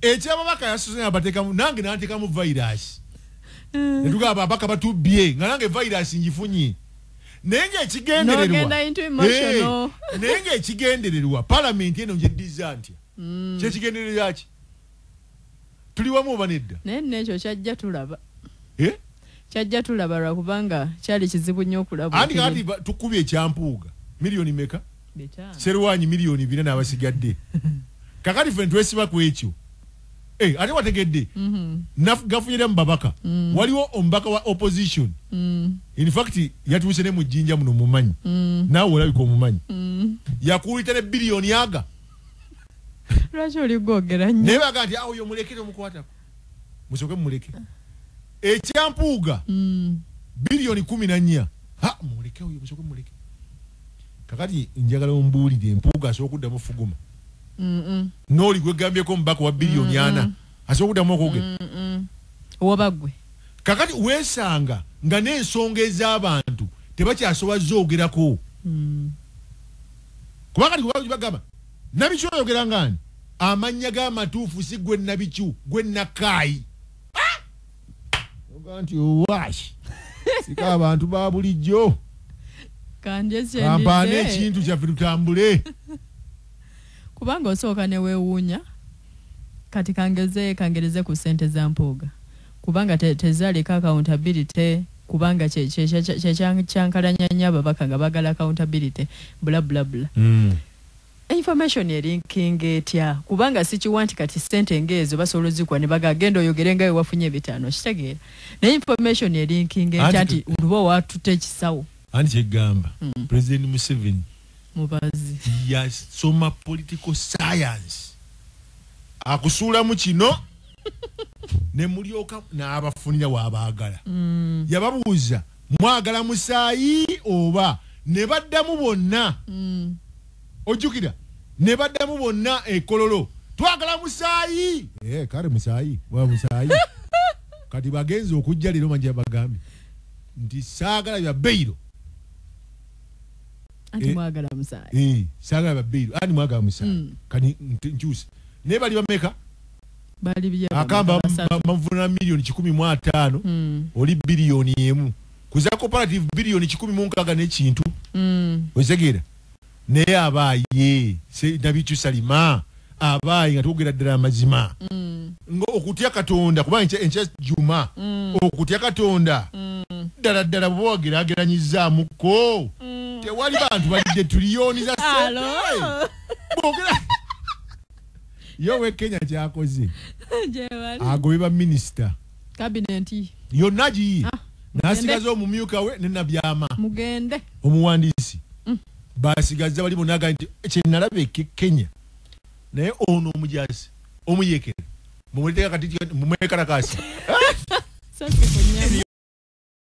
ekyababaka yasuze nabatekamu nange nantekamu virus mm. netugaa babaka batubye nga nange virus njifunye naye nga ekigendererwa eh, naye nga ekigendererwa palamenti eno njeddiza ntya mm. kyekigendererwa ki tuli wamu oba nedda naye nekyo kyajja tulaba eh? kyajja tulaba lwakubanga kyali kizibu nnyo okulaba andi kati tukubye ekyampuuga miliyoni meka serwanyi miliyoni bina n'abasigadde kakati ffe netwesiba ku ekyo Hey, eh, ate wategedde mm -hmm. nafugafunyira mu babaka mm -hmm. waliwo omubaka wa opposition mm -hmm. in fact yatuuse ne mujinja muno mumanyi mm -hmm. naawe olabika omumanyi mm -hmm. yakuulita ne biliyoni aga lwaki oli gwogera nyo naye baga nti awo yomulekere omukwatako musoke mumuleke ekyampuuga mm. biliyoni kumi na nnya ha muleke oyo musoke mumuleke Kakati njagala ombuulire Mpuuga asobola okuddamu okufuguma? N'oli gwe ggambyeko omubaka owa biliyoni ana asobola okuddamu okwogera? Oba ggwe. Kakati weesanga nga n'ensonga ez'abantu tebakyasobola zoogerako. Mm. Kuba kati gwe bagamba Nabikyu oyogera ng'ani? Amannya ge amatuufu si gwe Nabikyu, gwe Nakaayi. oga nti owash sika abantu ba bulijjo kampaana ekintu kyaffe tutambule kubanga osooka newewuunya kati kangeze kangereze ku sente za mpuuga kubanga tezaleka accountability kubanga kyekyankalanya nyo ababaka nga bagala accountability bulablabula mm. Information elinkinga etya kubanga sikiwa nti kati sente nga ezo basobola ozikuwa nebaga genda oyogere nga wewafunye ebitaano okitegeera naye information elinkinga etya nti luba watute ekisawo Anti kyegamba mm. president museveni mubazi yasoma political science akusuulamu kino nemulyoka n'abafunira wabagala mm. yababuuza mwagala musaayi oba ne baddamu bonna mm. ojjukira ne baddamu bonna ekololo twagala musaayi eh, kale musaayi wa musaayi kati bagenze okujja leero manja bagambye nti saagala bya beyiro eh, eh, saagala bya beyiro ani mwagala musaayi mm. kati nkyuse naye bali bameka akamba bamuvunana miliyoni kikumi mu ataano hmm. oli biliyoni emu kuza cooperative biliyoni kikumi mu nkaaga nekintu hmm. okitegera naye abaaye nabikyusa lima abaayi nga twogera ddala amazima mm. nga okutya katonda kubanga enkya juma mm. okutya katonda mm. ddala ddala bwoba wagerageranyizaamuko tewali bantu balidde tuliyoni za sente bwogera ye owe kenya kyakoze agobye baminisita kabineti yonna giyi ah, nasigaza omumyuka we nenabyama mugende omuwandiisi mm. basigazza bali bonaga nti kyenalaba eke kenya naye ono omujasi omuyekere mumwekalakasi